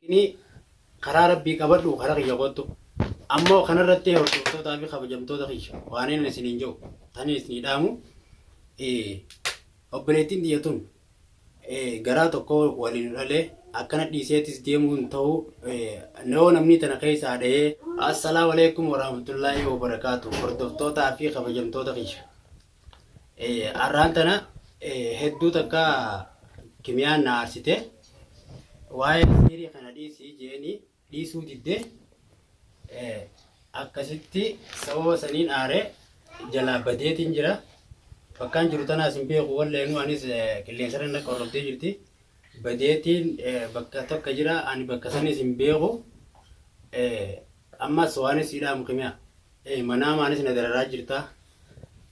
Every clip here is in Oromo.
Inni karaa Rabbii qabadhu karaa kiyya koottu. Ammoo kanarratti hordoftootaa fi kabajamtoota kiyya waaniin isiniin jedhu taniin isinii dhaamu obboleettiin tiyya tun garaa tokko waliin dhalee akkana dhiiseetis deemuu hin ta'u yoo namni tana keessaa dhahee assalaamu alaikum warahmatullaahi wabarakaatu hordoftootaa fi kabajamtoota kiyya Arraan tana hedduu takka kimiyaan na aarsite. Waa'ee siirii kana dhiisii jeeni dhiisuu didde. Akkasitti sababa saniin aaree jalaa badeetiin jira. Bakkaan jiru tanaas hin beeku walleenuu anis qilleensarra na qorrobdee jirti. Badeetiin bakka tokko jira ani bakka sanis hin beeku. Ammas waanin sii dhaamu kimiya ee manaamaanis na dararaa jirta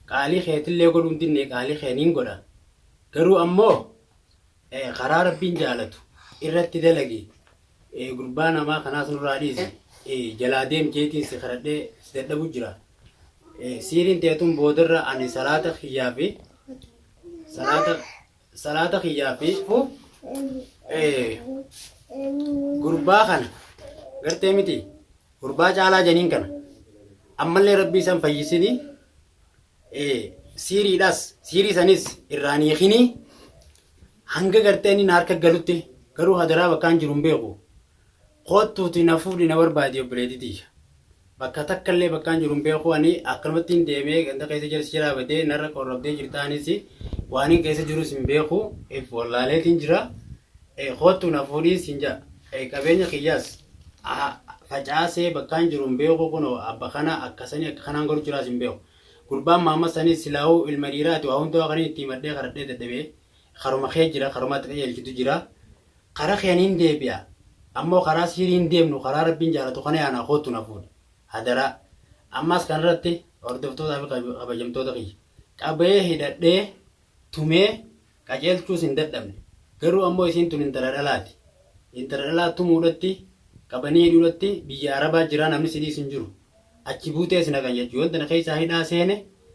qaalii keetillee godhuu hin dinne qaalii kee niin godha garuu ammoo ee karaa rabbiin jaalatu irratti dalagi ee gurbaa namaa kanaas nurraa dhiisi ee jalaa deem jeetiin si kadhadhee si dadhabu jira ee siiriin teetun boodarra ani salaata kiyyaa fi salaata salaata kiyyaa fi gurbaa kana gartee miti gurbaa caalaa janiin kana ammallee rabbii isan fayyisini siiriidhas siirii sanis irraan hiikini hanga gartee inni na harka galutti garuu hadaraa bakkaan jiru hin beeku Koottuuti na fuudhi na barbaadi obboleetii tiyya. Bakka takka illee bakkaan jiru hin beeku ani akkanumattiin deemee ganda keessa jira si jalaa badee narra qorrabdee jirta anis waanin keessa jirus hin beeku if wallaaleetiin jira. Koottuu na fuudhii siin jaa qabeenya kiyyaas facaasee bakkaan jiru hin beeku kunoo abba kana akkasanii akka kanaan godhu jiraas hin beeku. Gurbaan maamma sanii silaawuu ilma dhiiraati waa hundaa kanin itti himadhee kadhadhee dadhabee karuma kee jira karumaatti qajeelchitu jira. Kara kee nin deebi'a. Ammoo karaa siirii hin deemnu karaa Rabbiin jaalatu kana yaana koottu na fuudhi. Hadaraa. Ammaas kanarratti hordoftootaa fi kabajamtoota kiyya. Qabayee hidhadhee, tumee, qaceelchuus hin dadhabne. Garuu ammoo isiin tun intala dhalaati. Intala dhalaa tumuudhatti, qabanii hidhuudhatti biyya Arabaa jiraa namni si dhiisu hin jiru. Achi buutee si naqan jechu. Yoon tana keessaa hidhaa seene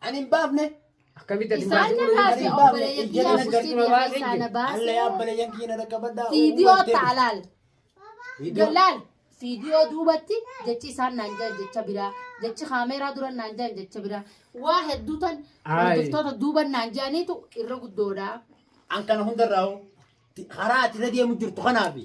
Ani hin baafne. Akkamitti ati Isaan baasii irraa godhanii? fi obboleeyyan Ijjata kiyyaa naggar busii dura biyya baasee keessaa jiru. na baasee. Alla yaa obboleeyyan kiyya na dhaqqabadhaa. Viidiyoo Uummattee. taalaal. Viidiyoo. Gallaal viidiyoo duubatti jechi isaan naan jiran jecha biraa jechi kaameeraa duran naan jiran jecha biraa waa hedduu tan Ayi. hordoftoota duuban naan jiraniitu irra guddoodha. An kana hundarraa hoo. Karaa ati irra deemu jirtu kanaafi.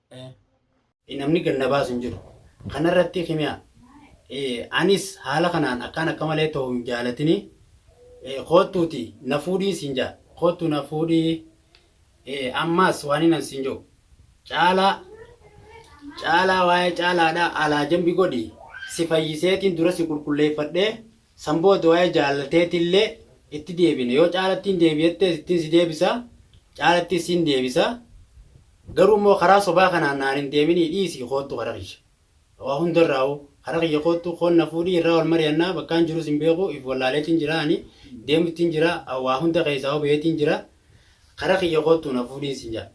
Namni gad na baasu hin jiru. Kana irratti kimiya anis haala kanaan akkaan akka malee tahu hin jaalatinii koottuuti na fuudhii siin ja'a. Koottuu na fuudhii ammaas waaniin an siin ja'u caalaa caalaa waa'ee caalaadhaa alaa jambi godhi si fayyiseetiin dura si qulqulleeffadhee San booda waa'ee jaalala teetiillee itti deebina. Yoo caalattiin deebi jettees ittin si deebisa, caalattis sin deebisa. Garuu immoo karaa sobaa kanaan naan hin deeminii dhiisii koottu kara kiyya. Waa hunda irraahuu kara kiyya koottu koon na fuudhii irraa wal mariyannaa bakkaan jirus hin beeku if wallaaleetiin jira ani deemuttiin jira waa hunda keessaahuu baheetiin jira kara kiyya koottu na fuudhiin sin jedha.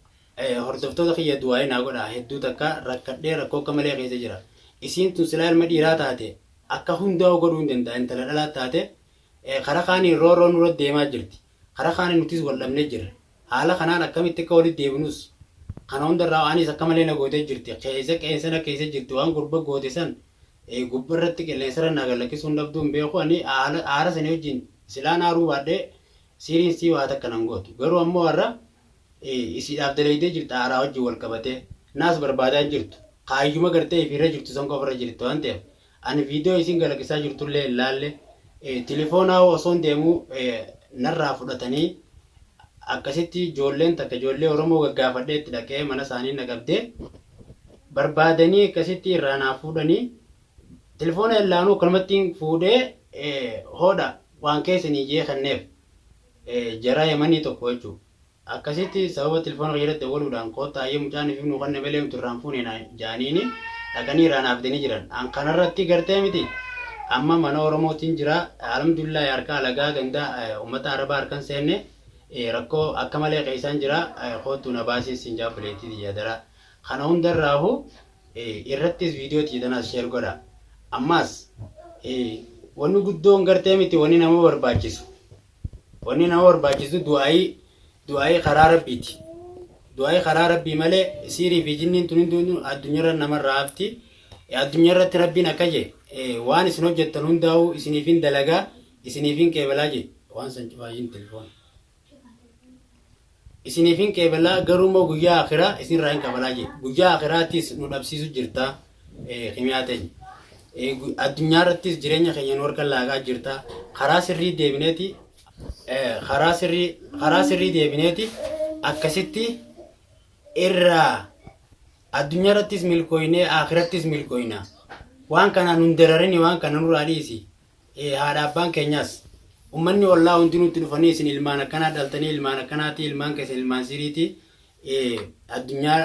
Hordoftoota kiyya du'aa'ii naa godhaa hedduu takka rakkadhee rakkoo akka malee keessa jira. Isiin tun silaa ilma dhiiraa taate akka hundaa'u godhuu hin danda'a intala dhalaas taate kara kaaniin roorroon nurra deemaa jirti kara kaaniin nutis wal dhabne jirra haala kanaan akkamitti akka walitti deebinus kana hundarraa anis akka malee na gootee jirti keessa qeensa na keessa jirti waan gurba goote san gubba irratti qilleensarra naa gallakkisuu hin dhabduu hin beeku ani aara sanii wajjin silaan aaruu baadhee siiriin sii waa takka nan gootu garuu ammoo har'a isiidhaaf dalaydee jirta haaraa wajjin wal qabatee naas barbaadaa hin jirtu kaayyuma gartee ifiirra jirtu san qofarra jirti waan ta'eef ani viidiyoo isiin galakisaa jirtullee hin laalle tilifoonaa osoon deemuu narraa fudhatanii akkasitti joolleen takka joollee oromoo gaggaafadhee itti dhaqee mana isaanii na qabdee barbaadanii akkasitti irraa naa fuudhanii tilifoona hin laanuu akkanumatti fuudhee hoodha waan keessanii jee kenneef. jaraa yamanii tokko jechuu akkasitti sababa tilfoona kiyyarratti dawwaluudhaan koottaa hayyee mucaan ifif nuu kanne malee nuti irraan fuune naan jaaniini dhaqanii irraa naaf fidanii jiran an kanarratti gartee miti amma mana oromootiin jira alhamdulillahi harka alagaa ganda ummata arabaa harkan seenne rakkoo akka malee keessaan jira koottuu na baasii siin jaa obboleettii tiyya adaraa kana hundarraahu irrattis video tiyya tanas share godha ammas wani guddoon gartee miti wani nama barbaachisu wani nama barbaachisu du'aayii du'aayii karaa rabbiiti du'aayii karaa rabbii malee siirii fi jinniin tun hunduu addunyarra namarraa hafti addunyarratti rabbiin akka je waan isin hojjettan hundaa'uu isiniifin dalagaa isiniifin qeebalaa je waan san cufaayyuun telefoona isiniif hin qeebalaa garuu immoo guyyaa akiraa isin irraa hin qabalaa jee guyyaa akiraattis nu dhabsiisu jirta kimiyaa teenya addunyaa irrattis jireenya keenya nu harka laagaa jirta karaa sirrii deebineeti karaa sirrii karaa sirrii deebineeti akkasitti irraa addunyaa irrattis milkooynee akirattis milkooyna waan kanaan nun dararini waan kana nurraa dhiisi Haadha abbaan keenyaas, ummanni ollaa hundi nutti dhufanii isin ilmaan akkanaa dhaltanii ilmaan akkanaatii ilmaan keessan ilmaan siiriitii addunyaa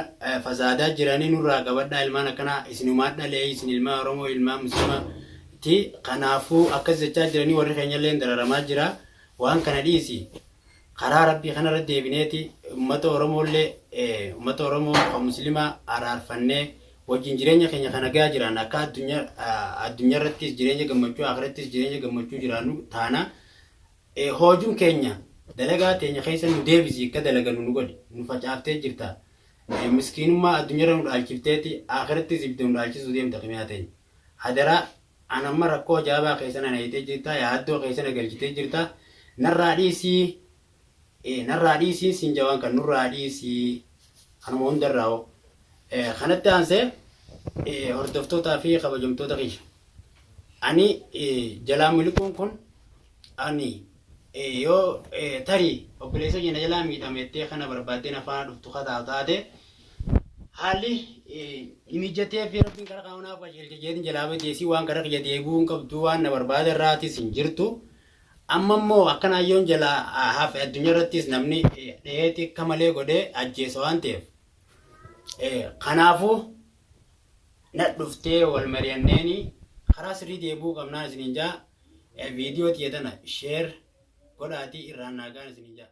fasaadaa jiranii nurraa qabadhaa ilmaan akkanaa isinumaa dhalee isin ilmaa Oromoo ilmaa muslimaa ti kanaafuu akkas jechaa jiranii warri keenyallee dararamaa jira waan kana dhiisi Karaa Rabbii kanarra deebineeti ummata Oromoollee ummata Oromoo kan Muslimaa araarfannee wajjin jireenya keenya kan nagaa jiraanna akka addunyaarrattis jireenya gammachuu akhirattis jireenya gammachuu jiraannu taana hoojun keenya dalagaa teenya keessa nu deebisi akka dalagannu nu godhi nu facaaftee jirta miskiinummaa addunyaarra nu dhaalchifteeti akhirattis ibidda nu dhaalchisuu deemta kimiyaa teenya hadaraa An amma rakkoo ajaa'ibaa keessa na nayxee jirta, yaaddoo keessa na galchitee jirta, narraa dhiisii, ee, narraa dhiisii siin jaa waan kana, nurraa dhiisii, kanuma hundarraa'uu. Ee, kanatti aansee, ee, hordoftootaa fi kabajamtoota kiyya, ani, ee, jalaa miliquun kun, Ani, Ee yoo tarii obboleessa kee na jalaa miidhame jettee kana barbaaddee na faana dhuftu ka taatu taate haalli hin mijjatee fi rabbiin karaa kana naaf qajeelche jeetiin jalaa bade isii waan karaa kiyya deebi'uu hin qabdu waan na barbaada irraatis hin jirtu. Amma immoo akka naayyoon jalaa hafe addunyaa irrattis namni dheetti akka malee godhee ajjeesa waan ta'eef. Kanaafuu na dhuftee wal mari'anneeni karaa sirrii deebi'uu qabnaan isiniin jaa Video tiyya tana share godhaatii irraan naa gahaan isiniin ja'a.